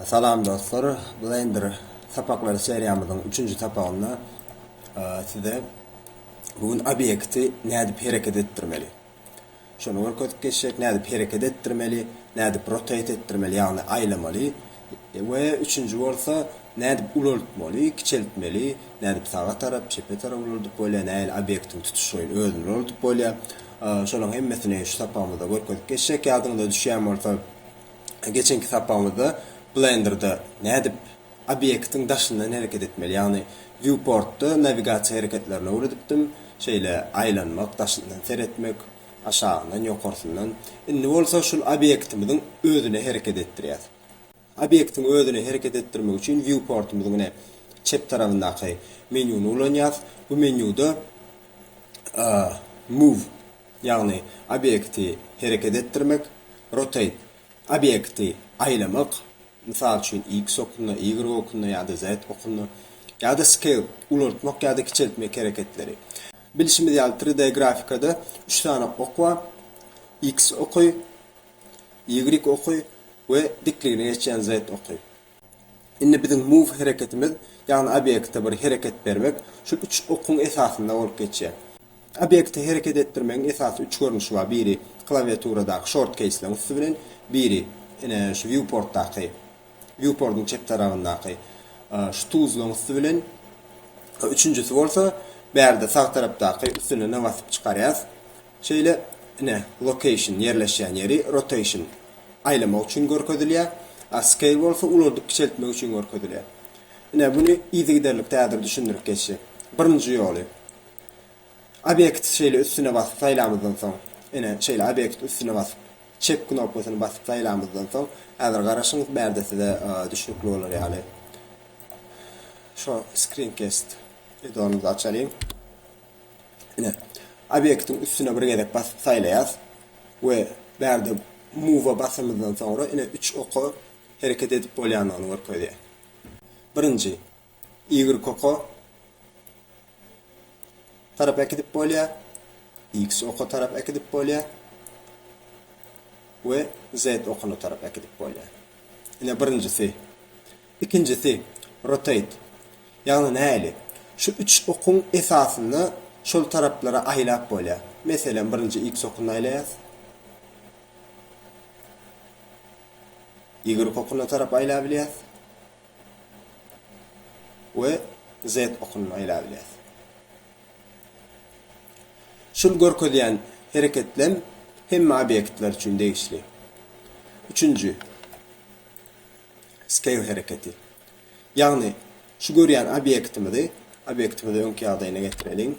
Salam dostlar! Blender sapaklary seriýamyzyň üçünji sapagynda size bu gün obýekti nädip hereket etdirmeli şony görkezip geçjek. Nädip hereket etdirmeli, nädip rotate etdirmeli ýagny aýlamaly we üçünji bolsa nädip ulaltmaly, kiçeltmeli, nädip saga tarap, çepe tarap ulaldyp bolýar, nähili obýektiň tutuşlaýyn özüni ulaldyp bolýar. Şolaryň hemmesini şu sapagymyzda görkezip geçjek. Ýadyňyza düşýän bolsa Geçenki sapagymyzda Blender-da nädip obýektiň daşyndan hereket etmeli, ýagny Viewport-da nawigasiýa hereketlerini öwredipdim, şeýle aýlanmak, daşyndan seretmek, aşagyndan, ýokarsyndan. Indi bolsa şul obýektimiziň özüne hereket etdirýäs. Obýektiň özüne hereket etdirmek üçin Viewport-ymyzyň ine çep tarabyndaky menýuny ulanýas. Bu menýuda Move ýagny obýekti hereket etdirmek, rotate, obýekti aýlamak, mysal üçin, x okunda, y okunda ýa-da z okunda, ýa-da scale, ulaltmak ýa-da kiçeltmek hereketleri. Bilşimiz ýaly, tri D grafikada üç sany ok bar, x oky, y oky we dikligini geçýän z oky. Indi biziň move hereketimiz, ýagny obýekte bir hereket bermek, şu üç okuň esasynda bolup geçýär. Obýekti hereket etdirmegiň esasy üç görnüşi bar, biri klawiaturadaky shortkeýsleriň üsti bilen, biri ine şu viewportdaky, viewportyň çep tarabyndaky şu tuzlaň üsti bilen, üçünjisi bolsa bärde sag tarapdaky üstüne na basyp çykarýas, Şeýle, ine, Location, ýerleşýän ýeri, Rotation, aýlamak üçin görkezilýär, a Scale bolsa ulaldyp kiçeltmek üçin görkezilýär. Ine, muny yzygiderlikde häzir düşündirip geçjek. Birinji ýoly. Obýekt şeýle üstüne basyp saýlamyzdan soň, ine, şeýle obýekt üstüne basyp, Çep knopkasyny basyp saýlamyzdan soň, häzir garaşyň, bärde size düşnükli bolar ýaly, şo Screencast eddonymyzy açalyň. Ine, obýektiň üstüne bir gezek basyp saýlaýas we bärde Move-a basamyzdan soňra ine üç oka hereket edip bolýandygyny görkezýär. Birinji Y oka tarap äkidip bolýar, X oka tarap äkidip bolýar we Z okuna tarap äkidip bolýar. Ine birinjisi. Ikinjisi, rotate. Ýagny nähili? Şu üç okuň esasynda şol taraplara aýlap bolýar. Meselem, birinji iks okunda aýlaýas. Ýigrik okuna tarap aýlabilýäs. We zet okuna aýlabilýäs. Şul görkezýän hereketlem hemme obýektler üçin degişli. Üçünji, Skeýl hereketi. Ýagny, şu görýän obýektimizi, obýektimizi öňki ýagdaýyna getireliň.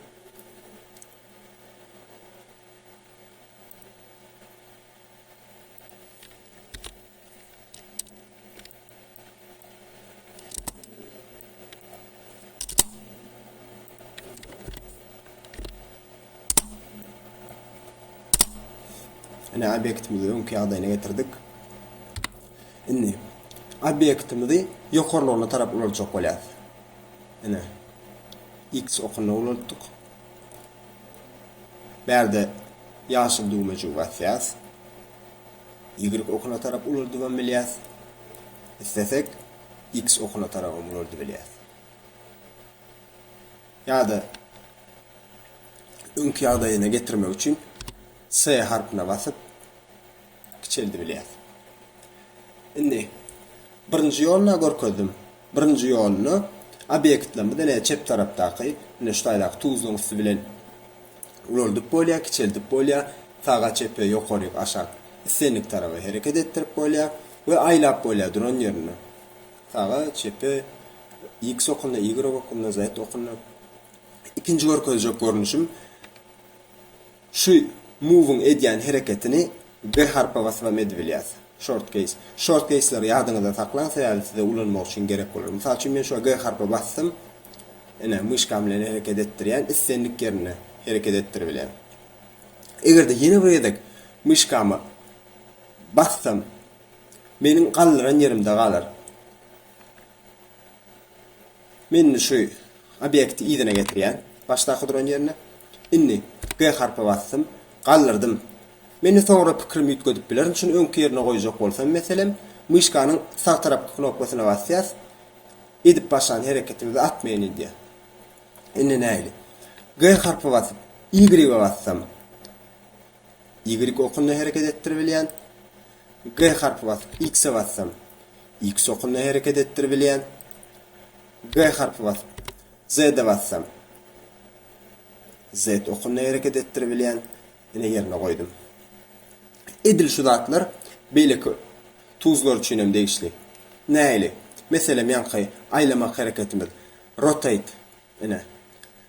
Ine, obýektimizi öňki ýagdaýyna getirdik. Indi, obýektimizi ýokarlygyna tarap ulaltjak bolýarys. Ine, X okuna ulaltdyk. Bärde ýaşyl düwmejigi basýarys. Y okuna tarap ulaldybam bilýäs. Islesek, X okuna tarabam ulaldy bilýäs. Ýa-da öňki ýagdaýyna getirmek üçin S harpyna basyp, kiçeldi bilýär. Indi birinji ýoluny-a görkezdim. Birinji ýoluny obýektlerimiz ine çep tarapdaky, ine şu taýdaky tuzluň üsti bilen ulaldyp bolýar, kiçeldip bolýar, saga, çepe, ýokaryk, aşak, islendik taraba hereket etdirip bolýar we aýlap bolýar duran ýerinde. Saga, çepe, X okunda, Y okunda, Z okunda. Ikinji görkezjek görnüşim Şu move-yň edýän hereketini bir harpa basyp hem edibilýär. Short keýs. Short keýsleri ýadyňyzda saklaň, sebäbi size ulanmak üçin gerek bolar. Mysal üçin men şo G harpa basdym. Ine, myşkam bilen hereket etdirýän, islendik ýerinde hereket etdiribilýär. Eger-de ýene bir gezek myşkama bassam, meniň galdyran ýerimde galar. Men indi şu obýekti yzyna getirýän, başdaky duran ýerine. Indi P harpy basdym, galdyrdym. Mende soňra pikirimi üýtgedip bilerin, şuny öňki ýerine goýjak bolsam, meselem, myşkanyň sag tarapky knopkasyna basýas, edip başlan hereketimizi atmaýyn edýär. Indi nähili? G harpy basyp, Y-e bassam, Y okunda hereket etdiribilýän. G harpy basyp, X-e bassam, X okunda hereket etdiribilýän. G harpy basyp, Z-e bassam, Z okunda hereket etdiribilýän. Ine ýerine goýdum. Edil şu zatlar beýleki tuzlar üçin hem degişli. Nähili? Meselem ýaňky aýlamak hereketimiz, rotate, ine,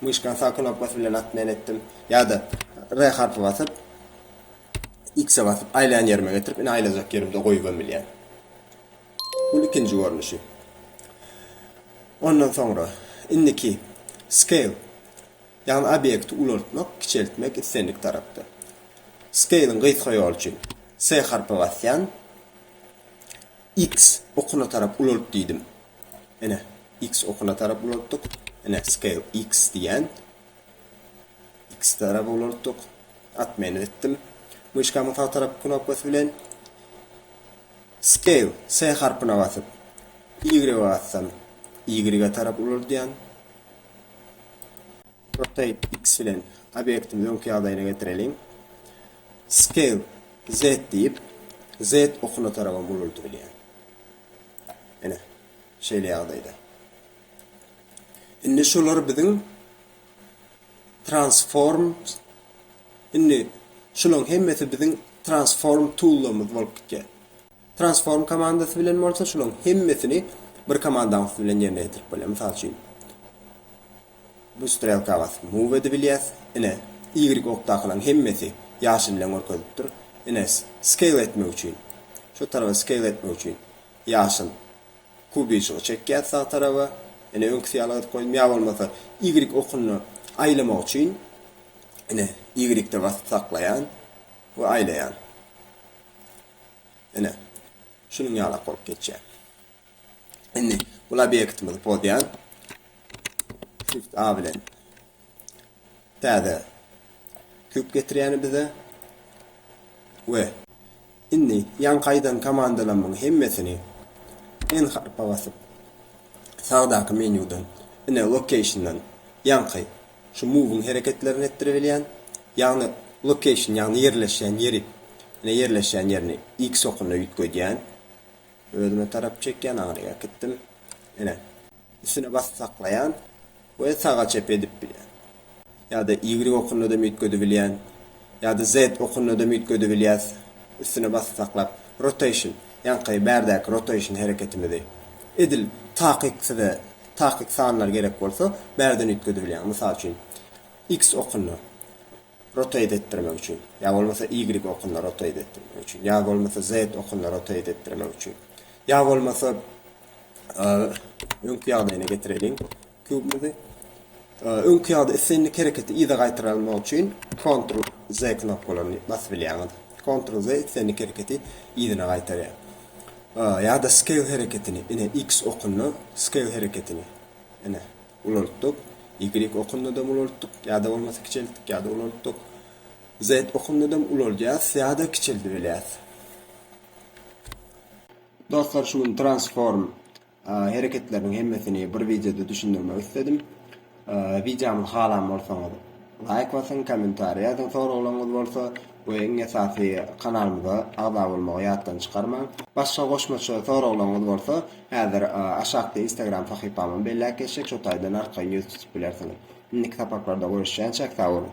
Myşkany sag knopkasy bilen atyp men etdim. Ýa-da R harpy basyp, X-e basyp aýlaýan ýerime getirip, ine aýlajak ýerimde goýubam bilýän. Bu ikinji görnüşi. Ondan soňra indiki scale, ýagny obýekti ulaltmak, kiçeltmek islendik tarapda. Scale-iň gysga ýoly üçin S harpy basýan, X okuna tarap ulalt diýdim. Ine, X okuna tarap ulaltdyk. Ine, scale X diýýän. X tarap ulaltdyk. At menu etdim. Myşkamyň sag tarapky knopkasy bilen scale S harpyna basyp, Y bassam, Y-e tarap ulaldýan. Rotate X bilen obýektimizi öňki ýagdaýyna getireliň. Scale Z diýip, Z okuna tarabam ulaldybilýän. Ine. Şeýle ýagdaýda, indi şular biziň Transforms, indi şularyň hemmesi biziň Transform tool-larymyz bolup gitýär. Transform komandasy bilen bolsa şularyň hemmesini bir komandaň üsti bilen ýerine ýetirip bolýar. Mysal üçin, bu strelka basyp move edip bilýäs. Ine, ýigrik okdakylaryň hemmesi ýaşyl bilen görkezilipdir. Ine, scale etmek üçin, şu tarapa scale etmek üçin Ýaşyl. Kubi şo çekýär sag taraba. Ine öňküsi ýaly gyzyp goýdum. Ýa bolmasa ýigrik okuny aýlamak üçin ine ýigrikde basyp saklaýan we aýlaýan. Ine. Şunuň ýalak bolup geçýär. Indi bul obýektimizi pozýan. Shift A bilen Däde. Süp getirýäni bize we. Indi ýaňky aýdan komandalamyň hemmesini N harpa basyp, sagdaky menýudan, ine, location-dan ýaňky şu move-yň hereketlerini etdirebilýän, ýagny location, ýagny ýerleşýän ýeri, ine, ýerleşýän ýerini X okuna üýtgedýän, özüme tarap çekýän, aňryk äkitdim, ine, üstüne basyp saklaýan, we saga çep edip bilýän, ýa-da y okunadam üýtgedebilýän, ýa-da z okunadam üýtgedebilýäs, üstüne basyp saklap, rotation, ýaňky bärdäki rotation hereketimizi, edil takyk size takyk sanlar gerek bolsa, bärden üýtgedebilýäň, mysal üçin, x okunda rotate etdirmek üçin, ýa bolmasa y okunda rotate etdirmek üçin, ýa bolmasa z okunda rotate etdirmek üçin, ýa bolmasa. öňki ýagdaýyna getireliň kubumyzy. Öňki ýagda islendik hereketi yza gaýtarmak üçin Ctrl Z knopkalaryny basyp bilýäňiz. Ctrl Z islendik hereketi yzyna gaýtarýar. Ýa-da scale hereketini, ine X okunda scale hereketini ine ulaltdyk. Y okunda da ulaltdyk, ýa-da bolmasa kiçeltdik, ýa-da ulaltdyk. Z okunda da ulalýas, ýa-da kiçeldip bilýäs. Dostlar şu gün transform hereketleriniň hemmesini bir wideoda düşündirmek isledim. Wideomyzy halan bolsaňyz laýk basyň, kommentariý ýazyň, soraglaryňyz bolsa we iň esasy kanalymyza agza bolmagy ýatdan çykarmaň. Başga goşmaça soraglaryňyz bolsa häzir aşakda instagram sahypamyň belläp geçjek şo taýdan arkaýyn ýüz tutup bilersiňiz. Indiki sapaklarda görüşýänçäk sag boluň.